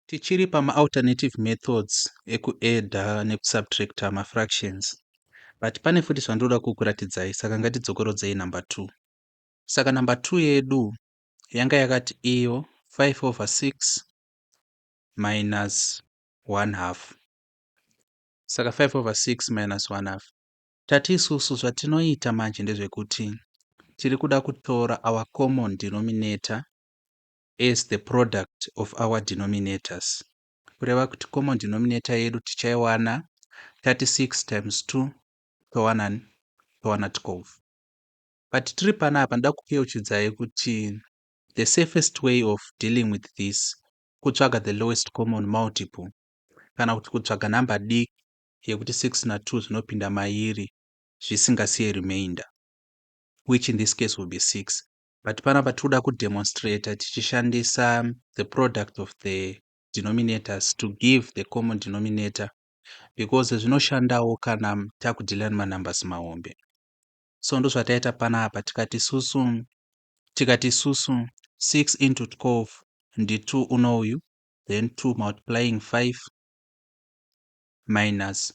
Tichiri pamaAlternative methods ekuAdder nekuSubtractor mafractions, but pane futi zvandinoda kukuratidzai saka ngatidzokorodzei number two. Saka number two yedu yanga yakati iyo 5 over 6 minus 1 half. Saka 5 over 6 minus 1 half. Tati isusu zvatinoita manje ndezvekuti tiri kuda kutora our common denominator as the product of our denominators kureva kuti common denominator yedu tichaiwana 36 times 2 towana towana 12 but tiri panapa ndoda kukeuchidzai kuti the safest way of dealing with this kutsvaga the lowest common multiple kana kuti kutsvaga nhamba diki yekuti 6 na 2 zvinopinda mairi zvisingasiye remainder which in this case will be 6 but panapa tiri kuda kudemonstrator tichishandisa the product of the denominators to give the common denominator because zvinoshandawo kana takudhila nemanumbers mahombe so ndozvataita panapa tikati susu tikati susu 6 into 12 ndi 2 unouyu then 2 multiplying 5 minus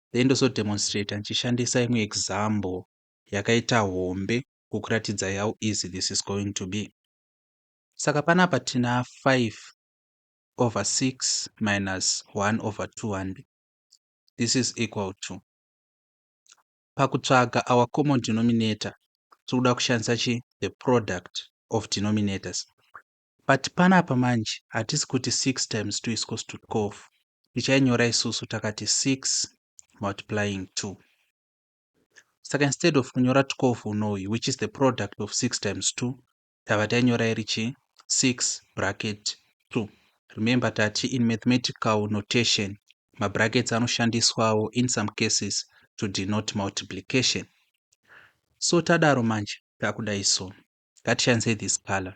then ndozo demonstrator ndichishandisa imwe example yakaita hombe kukuratidza how easy this is going to be. Saka panapa tina 5 over 6 minus 1 over 2 handi. This is equal to pakutsvaga our common denominator tiri kuda kushandisa chi the product of denominators but panapa manje hatisi kuti 6 times 2 is equals to 12 tichainyora isusu takati 6 multiplying 2 saka instead of kunyora 12 unouyu which is the product of 6 times 2 tava tainyora iri chi 6 bracket 2 remember tati in mathematical notation mabrackets anoshandiswawo in some cases to denote multiplication so tadaro manje takudai so ngatishandise this color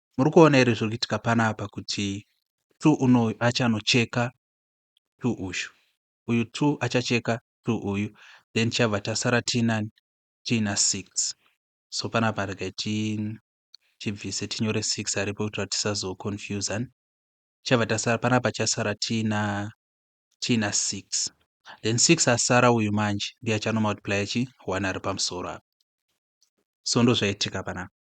Muri kuona here zviri kuitika panapa kuti tu unoyu achanocheka tu uyu uyu tu achacheka tu uyu then chabva tasara tiinani tiina six so panapa regai tichibvise tinyore six aripo kuitira kuti tisazoconfusan chabva tasara panapa chasara tiina tiina six then six asara uyu manje ndiye achanomultiplya chi one ari pamusoro apa so ndozvaitika panapa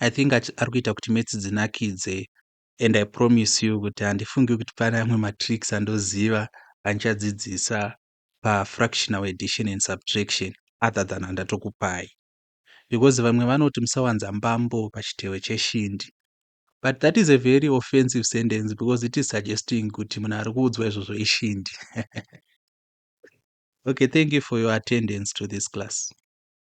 I think ari kuita kuti maths dzinakidze and I promise you kuti handifungi kuti pane amwe matricks andoziva andichadzidzisa pafractional addition and subtraction other than andatokupai because vamwe vanoti musawanza mbambo pachitewe cheshindi but that is a very offensive sentence because it is suggesting kuti munhu ari kuudzwa izvozvo ishindi okay thank you for your attendance to this class